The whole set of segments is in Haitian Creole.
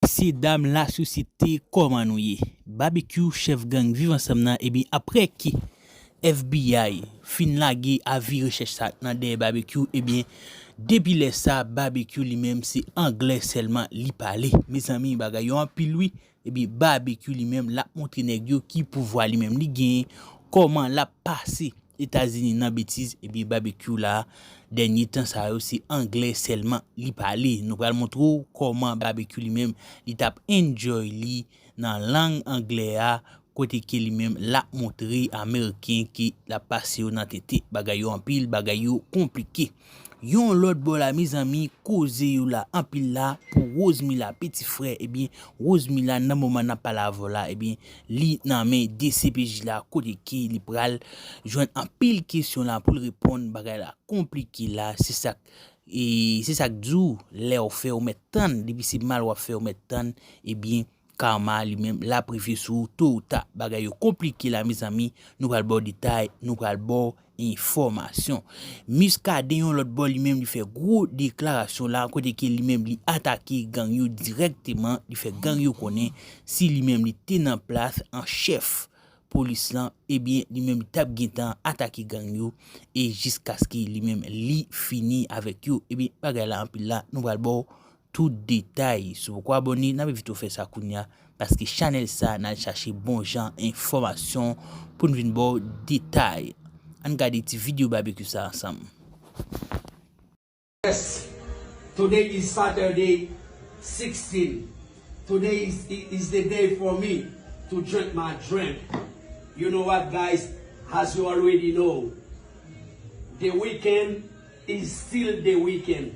Mesye dam la sosyete koman nou ye. Babekyou chèf gang viv ansanm nan ebyen aprè ke FBI fin lage avi rechèch sa nan dèyè babekyou ebyen depi lè sa babekyou li menm se anglè sèlman li pale mezanmi bagay yo anpil wi ebyen babekyou li menm lap montre nèg yo ki pouvwa li menm li genyen koman lap pase Etazini nan betiz ebyen babekyou la dènye tan sa yo se anglè sèlman li pale nou pral montre w kòman babekyou li menm li tap enjoy li nan lang anglè a kote ke li menm lap montre ameriken ke lap pase yo nan tete bagay yo anpil bagay yo konplike. Yon lòt bò la mezanmi koze yo la anpil la pou Rosemila piti frè ebyen Rosemila nan moman nap pale avèw la ebyen li nan men dcpj la kote ke li pral jwenn anpil kesyon la poul reponn bagay la konplike la se sak se sak diw lèw fè ou mèt tann depi se mal wap fè ou mèt tann ebyen. Karma li menm lap rive sou ou to ou ta bagay yo konplike la mezanmi nou pral baw detay nou pral baw enfòmasyon Muscadin yon lòt bò li menm li fè gwo deklarasyon la kote ke li menm li atake gang yo dirèkteman li fè gang yo konnen si li menm li te nan plas an chèf polis lan ebyen li menm li tap gentan atake gang yo e jiskaske li menm li fini avèk yo ebyen bagay la anpil la nou pral baw Tout detay Si w poko abone nan envite w fè sa kounya paske chanèl sa nan chache bon jan enfòmasyon pou n vin ba w detay Ann gade ti video babekyou sa ansanm. Yes Today is Saturday 16 Today is the day for me to drink my drink You know what guys as you already know The weekend is still the weekend.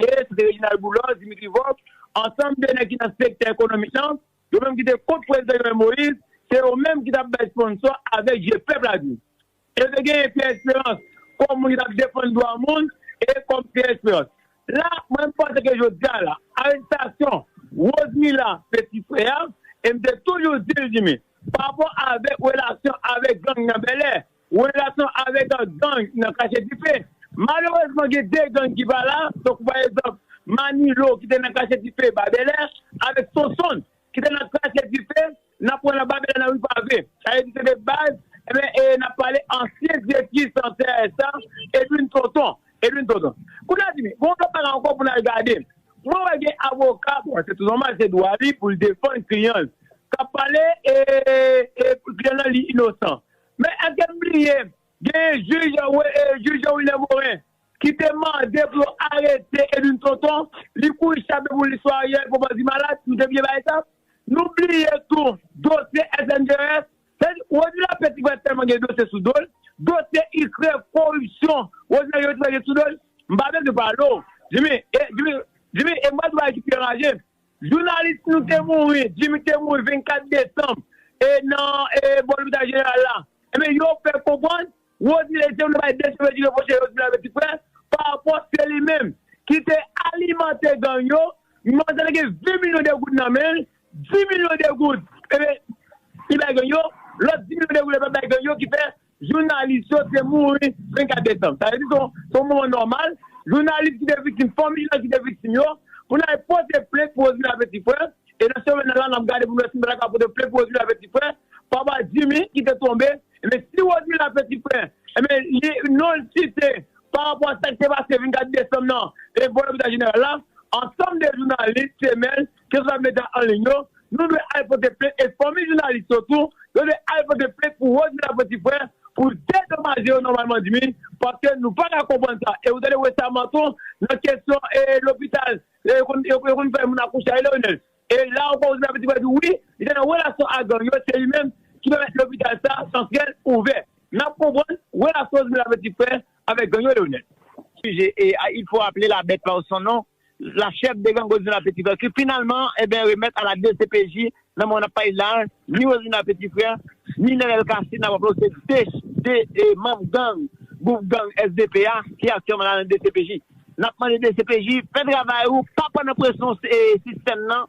E se te Reginald Boulos, Dimitri Vorbe, ansanm de nèg ki nan sektè ekonomik lan, yo menm ki te kont Prezidan Jovenel Moïse, se yo menm ki t ap bay sponsò avèk je pèp la di. E te genyen Pierre Esperance kòm moun ki t ap defann dwa moun e kòm Pierre Esperance. La, mwen menm m panse ke jodi a la, arestasyon Rosemila peti frè a, e m te toujou di l, Jimmy, parapò avèk relasyon avèk gang nan Bèlè, Relasyon avèk gang nan kache dife. Malerezman gen 2 gang ki pa la, tankou pa egzanp Manilo ki te nan kache dife ba Bèlè avèk Sonsonn ki te nan kache dife nan pwen nan ba Bèlè nan ri Pave. Sa vle di se 2 baz enben e n ap pale ansyen direktris nan CRSA Edwin Tonton, Edwin Tonton. Kounye a Jimmy, gon lòt bagay ankò pou n al gade. Mwen wè gen avoka, bon se tou nòmal se dwa li pou l defann kliyan l k ap pale e kliyan l lan li inosan. Men èske n bliye genyen jij Jean Wilner Morin ki te mande pou yo arete Edwin Tonton, li kouri chape pou li sou Ariel pou bandi malad, nou te bliye bagay sa? Nou bliye tou dosye SNDES, sa vle di Rony Lapin ti frè tèlman gen dosye sou do l, dosye Ikrè, koripsyon, Rosinante Youri ti frè gen sou do l, m pa bezwen pale w Jimmy, e m pral di w bagay ki pi anraje, Jounalis nou te mouri, Jimmy te mouri 24 desanm e nan e bò lopital jeneral la. Ebyen yo fè konprann Rosmile Jean te bay desèm vèdi repwoche Rosmile ak Petit Frè pa rapò se li menm ki te alimante gang yo, menm sa te gen 20 milyon de goud nan men l, 10 milyon de goud ebyen li bay gang yo, lòt 10 milyon de goud li pa bay gang yo ki fè Jounalis yo te mouri 24 desanm. Sa vle di se yon moman nòmal, jounalis ki te viktim, fanmi jan ki te viktim yo, pou n ale pote plent pou Rosmila Petit-Frè, e nan semèn nan la n ap gade pou nou wè si nou ta ka pote plent pou Rosmila Petit-Frè, papa Jimmy ki te tonbe, enben si Rosmila Petit-Frè, enben li non l site pa rapò a sa ki te pase 24 desanm nan e bò lopital jeneral la, ansanm de jounalis, semèn, keswa medya anliy yo, nou dwe al pote plent e fanmi jounalis yo tou, yo dwe al pote plent pou Rosemila Petit Frère pou dedomaje yo nòmalman dmi paske nou pa ka konprann sa e ou tande resaman tou nan kesyon e lopital e yo konn yo konn fè moun akouche a Leonel e la ankò Rosemila Petit Frère di wi li te nan relasyon a gang yo se li menm ki pèmèt lopital sa santrèl ouvè nap konprann relasyon Rosemila Petit Frère avèk gang yo Leonel. Sujet, et il faut appeler la bête par son nom. la chef de gang Rosemar Petit Frère ki finalman eben remèt a la dcpj nan moman nap pale la a, ni Rosemar Petit Frère, ni Nenel Cassy nap raple w se 2 de manm gang gwoup gang SDP a ki aktyèlman la nan dcpj. Nap mande dcpj fè travay ou pa pran nan presyon sistèm nan.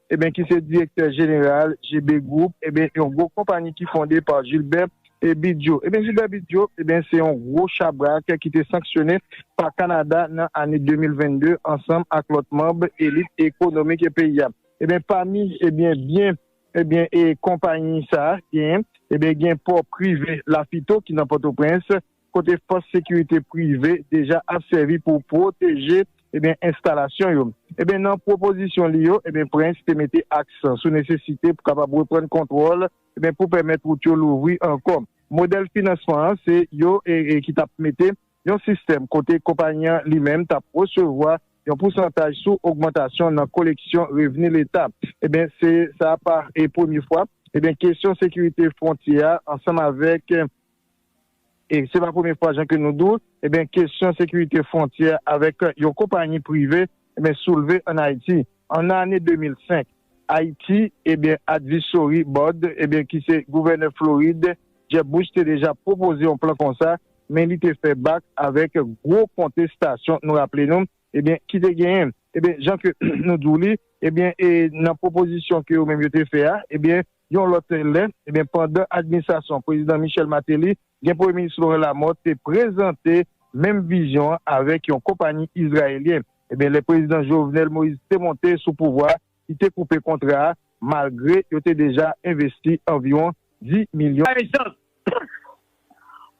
Eben ki se direktè jeneral JB Group, eben yon gwo konpani ki fonde pa Gilbert Bidjo. Eben Gilbert Bidjo, eben se yon gwo chabrak ki te sanksyone pa Kanada nan ane 2022 ansanm ak lòt manb elit ekonomik peyi a. Eben pami eben byen eben e konpayi sa genyen, eben gen pò prive Lafito ki nan Pòtoprens, kote fòs sekirite prive deja ap sèvi pou pwoteje enstalasyon yo. Nan pwopozisyon li yo, Prince te mete aksan sou nesesite pou kapab reprann kontwòl pou pèmèt wout yo louvri ankò. Modèl finansman an se yo ki t ap mete yon sistèm kote konpayi an li menm t ap resevwa yon pousantaj sou ogmantasyon nan koleksyon revni leta. Se sa pa premye fwa kesyon sekirite fwontyè a ansanm avèk E se pa premye fwa jan ke nou di w, eben kesyon sekirite fwontyè avèk yon konpanyi prive eben soulve an Ayiti. An ane 2005, Ayiti eben advisory board eben ki se gouvènè Florid Jeb Bush te deja pwopoze yon plan konsa men li te fè bak avèk gwo kontestasyon nou raple nou eben ki te genyen. Eben jan ke nou di w li eben e nan pwopozisyon ke yo menm yo te fè a eben Yon lòt lè, ebyen pandan administrasyon Prezidan Michel Martelly, gen Premye Minis Laurent Lamothe te prezante menm vizyon an avèk yon konpanyi izrayelyen. Ebyen lè Prezidan Jovenel Moïse te monte sou pouvwa, li te koupe kontra a malgre yo te deja envesti anviwon 10 milyon. Pa gen chans. Pff!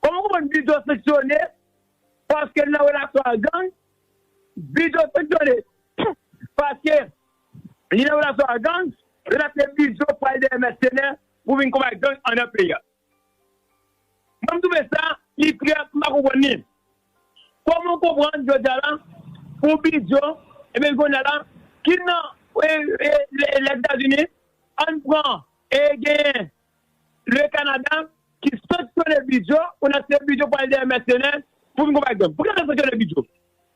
Kòman w konprann Bido sanksyone paske l nan relasyon ak gang? Bido sanksyone pff! paske Li nan relasyon ak gang, yo tap fè bizou pou al dèyè mèsenè pou vin konbat gang andan peyi a. Mwen m twouve sa li trè m pa konprann li. Kòman w konprann jodi a la pou bizou ebyen jodi a la ki nan Lèzetazini ann pran e genyen le Kanada ki sanksyone bizou pou nan se bizou pou al dèyè mèsenè pou vin konbat gang. Pou ki sa yo sanksyone bizou?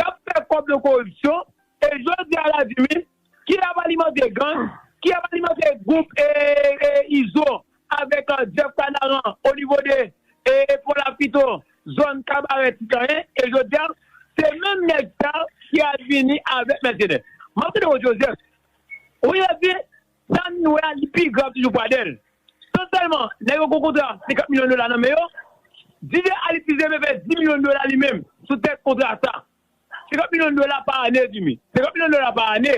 kap fè kòb nan koripsyon e jodi a la di min ki ap alimante gang ki ap alimante gwoup izo avèk Jeff kanaran o nivo de pon lapito zòn kabarè ti kanyen e jodi a se menm nèg sa ki al vini avèk mèsenè map mande ou Joseph ou ye di Sa m wè a li pi grav toujou pou Adèl. Non sèlman nèg yo gen yon kontra 50 milyon dola nan men yo, Didier Alexis reve fè 10 milyon dola li menm sou tèt kontra sa. 50 milyon dola pa ane Jimmy. 50 milyon dola pa ane,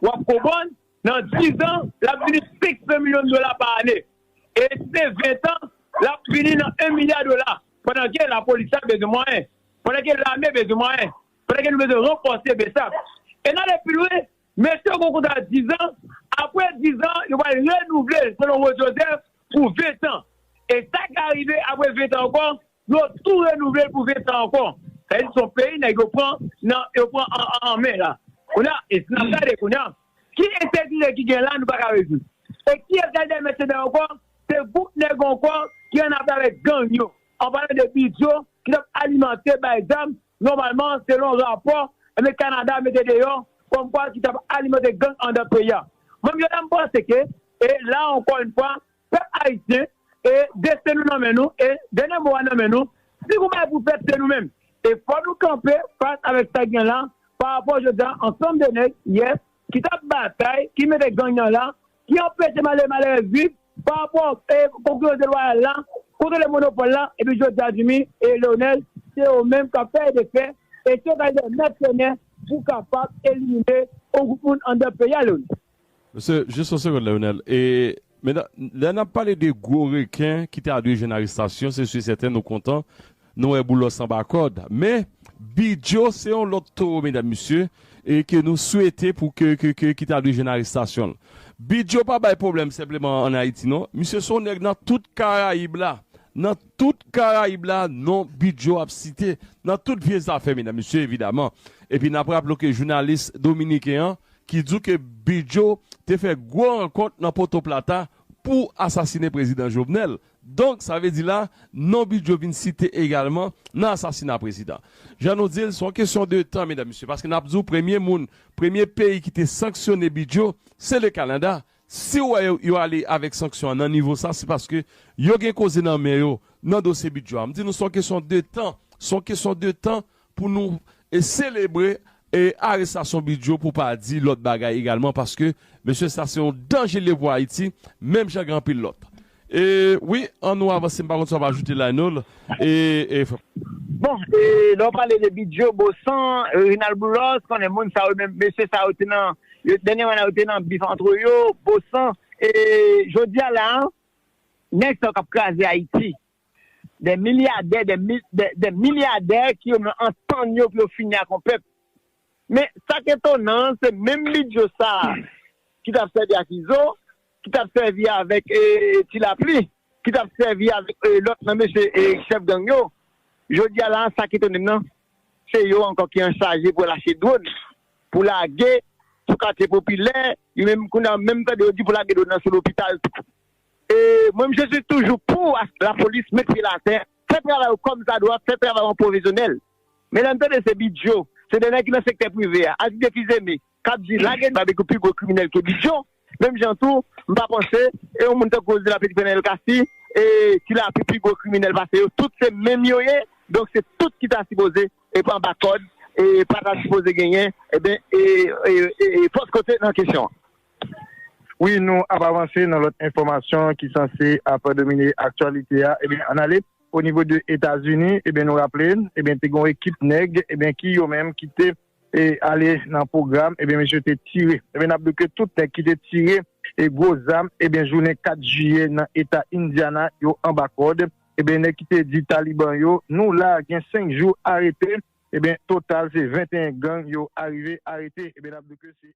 w ap konprann nan dizan l ap vini 500 milyon dola pa ane. E si se ventan, l ap vini nan 1 milya dola pandan ke lapolis la bezwen mwayen, pandan ke lame bezwen mwayen, pandan ke nou bezwen ranfòse bsap. E n ale pi lwen. Mesye yo gen yon kontra dizan, apre dizan yo pral renouvle l selon Rose Joseph pou ventan. E sa ka rive apre ventan ankò, yo tou renouvle l pou ventan ankò. Sa vle di se yon peyi nèg yo pran nan, yo pran an men la. Kounye a, e si n ap gade kounye a, ki ensekirite ki gen la nou pa ka rezoud? E ki ap gade dèyè mèsenè ankò, se gwoup nèg ankò ki annafè avèk gang yo, an palan de Bidyo ki t ap alimante, bay zam, Nòmalman, selon rapò Ame Kanada mete deyò, kòmkwa ki t ap alimante gang andan peyi a. Mwen menm Jodha m panse ke e la ankò yon fwa, pèp Ayisyen, e desten nou nan men nou, e dènye mo a nan men nou. Si gon bagay pou fèt se nou menm. E fò nou kanpe fas avèk sa k gen la, parapò Jodha ansanm de nèg, yes, ki t ap batay, ki mete gang nan la, ki anpeche malere malerèz viv pa rapò konkurans delwayal la, kontwole monopòl la epi jodi a Jimmy e Leonel se yo menm kap fè e defè e se yo kal de mèsenè pou kapab elimine yon gwoup moun andan peyi a Leonel. Mesye, jis yon segonn Leonel, e men lè nap pale de gwo reken ki ta dwe jwenn arestasyon se si sèten nou kontan Nou wè Boulos anba kòd. Men, Bidyo se yon lòt towo medam mesye e ke nou swete pou ke ke ke ki ta dwe jwenn arestasyon l. Bidyo pa bay pwoblèm senpleman an Ayiti non. Misye se yon nèg nan tout Karayib la. Nan tout Karayib la non Bidyo ap site. Nan tout vye zafè medam mesye evidaman. Epi n ap raple w ke jounalis dominiken an ki di w ke Bidyo te fè gwo rankont nan Potoplata pou asasine prezidan Jovenel. Donk sa vle di la non Bidjo vin site egalman nan asasina prezidan. Jan nou di l, se yon kesyon de tan medam mesye paske n ap di w premye moun, premye peyi ki te sanksyone Bidjo se le Kanada. Si w wè yo, yo ale avèk sanksyon an nan nivo sa se paske yo gen koze nan men yo nan dosye Bidjo a. M di nou se yon kesyon de tan, se yon kesyon de tan Pou nou selebre arestasyon Bidyo pou pa di lòt bagay egalman paske mesye sa se yon danje li ye pou Ayiti menm jan gen anpil lòt. E wi an nou avanse m pa konn sa w ap ajoute Lionel e. Bon e lè w pale de Bidyo, Bosan, Reginald Boulos konnen moun sa yo menm mesye sa yo te nan dènyèman la yo te nan bif antre yo Bosan e jodi a la a nèg sa yo k ap kraze Ayiti Des milyadè, des mil, des, des milyadè ki yo menm antann yo pou yo fini ak yon pèp. Men, sa k etonan an, se menm bidyo sa a ki t ap sèvi ak Izo, ki t ap sèvi avèk Ti Lapli, ki t ap sèvi avèk lòt nan mesye chèf gang yo, jodi a la a, sa k etone m nan, se yo ankò ki anchaje pou lache dwòn, pou lage sou katye popilè, yo menm kounye a menm tande yo di pou lage dwòn nan sou lopital tou. Mwen m jezi toujou pou la polis met pye l atè fè travay yo kòm sa dwa fè travay an pwofesyonèl men lè m tande se bidjo se de nèg ki nan sektè prive a ak de fizeme kap di lage babekyou pi gwo kriminèl ke bidjo menm jan tou m pa panse e yon moun tankou ozila pitit fènèl kasi e tilapli pi gwo kriminèl pase yo tout se menm yo ye donk se tout ki ta sipoze e pa anba kòd e pa ta sipoze genyen e ben e e e fòs kote nan kesyon an. Wi nou ap avanse nan lòt enfòmasyon ki sanse ap domine aktyalite a ebyen ann ale o nivo de Etazini ebyen nou raple ebyen te gen yon ekip nèg ebyen ki yo menm ki te ale nan pwogram ebyen mesye te tire ebyen n ap di w ke tout nèg ki te tire e gwo zam ebyen jounen 4 jiye nan eta Indiana yo anba kòd ebyen nèg ki te di taliban yo nou la gen 5 jou arete ebyen total se 21 gang yo arive arete ebyen n ap di w ke se.